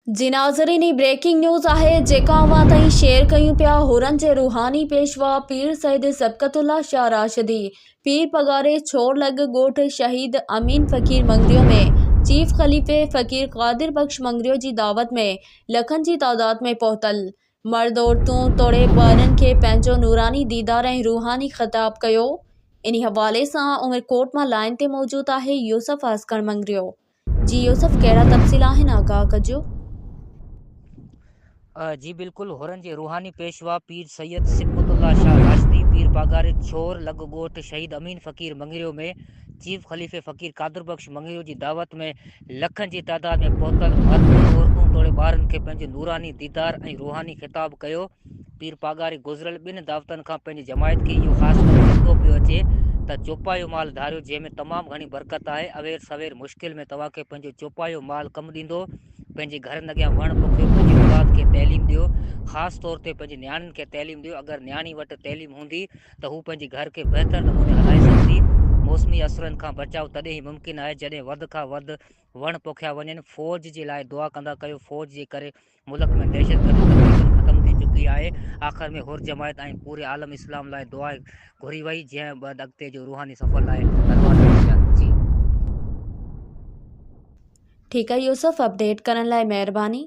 جي ناظرين هي بريڪنگ نيوز آهي جيڪا اوهان تائين شيئر ڪيون پيا هورن جي روحاني پيشوا پير سيد سبقت الله شاهه راشدي پير پگهاري ڇور لڳ ڳوٺ شهيد امين فقير مڱريو ۾ چيف خليفي فقير قادر بخش مڱريو جي دعوت ۾ لکن جي تعداد ۾ پهتل مرد عورتون توڙي ٻارن کي پنهنجو نوراني ديدار ۽ روحاني خطاب ڪيو انهي حوالي سان عمرڪوٽ مان لائين تي موجود آهي يوسف عاسڪڻ مڱريو جي يوسف ڪهڙا تفصيل آهن آگاهه ڪجو. جي بلڪل حرن جي روحاني پيشوا پير سيد صبغت الله شاهه راشدي پير پاڳاري ڇور لڳ ڳوٺ شهيد امين فقير مڱريو ۾ چيف خليفي فقير قادر بخش مڱريو جي دعوت ۾ لکن جي تعداد ۾ پهتل مرد عورتون توڙي ٻارن کي پنهنجو نوراني ديدار ۽ روحاني خطاب ڪيو پير پاڳاري گذريل ٻن دعوتن کان پنهنجي جماعت کي اهو خاص ڪري چوندو پيو اچي ته چوپايو مال ڌاريو جنهن ۾ تمام گهڻي برڪت آهي اوير سوير مشڪل ۾ توهان کي پنهنجو چوپايو مال ڪم ڏيندو پنهنجي گهرن اڳيان وڻ پوکيو پنهنجي اولاد کي تعليم ڏيو خاص طور تي پنهنجي نياڻين کي تعليم ڏيو اگر نياڻي وٽ تعليم هوندي ته هو پنهنجي گهر کي بهتر نموني هلائي سگهندي موسمي اثرن کان بچاء تڏهن ئي ممڪن آهي جڏهن وڌ کان وڌ وڻ پوکيا وڃن فوج جي لاء دعا ڪندا ڪيو فوج جي ڪري ملڪ ۾ دهشتگردي تقريبن ختم ٿي چڪي آهي، آخر ۾ حر جماعت ۽ پوري عالم اسلام لاء دعا گهري وئي جنهن بعد اڳتي جو روحاني سفر لاء پروان ڪيو ويا جي. ٺيڪ آ يوسف اپڊيٽ ڪرڻ لاء مهرباني.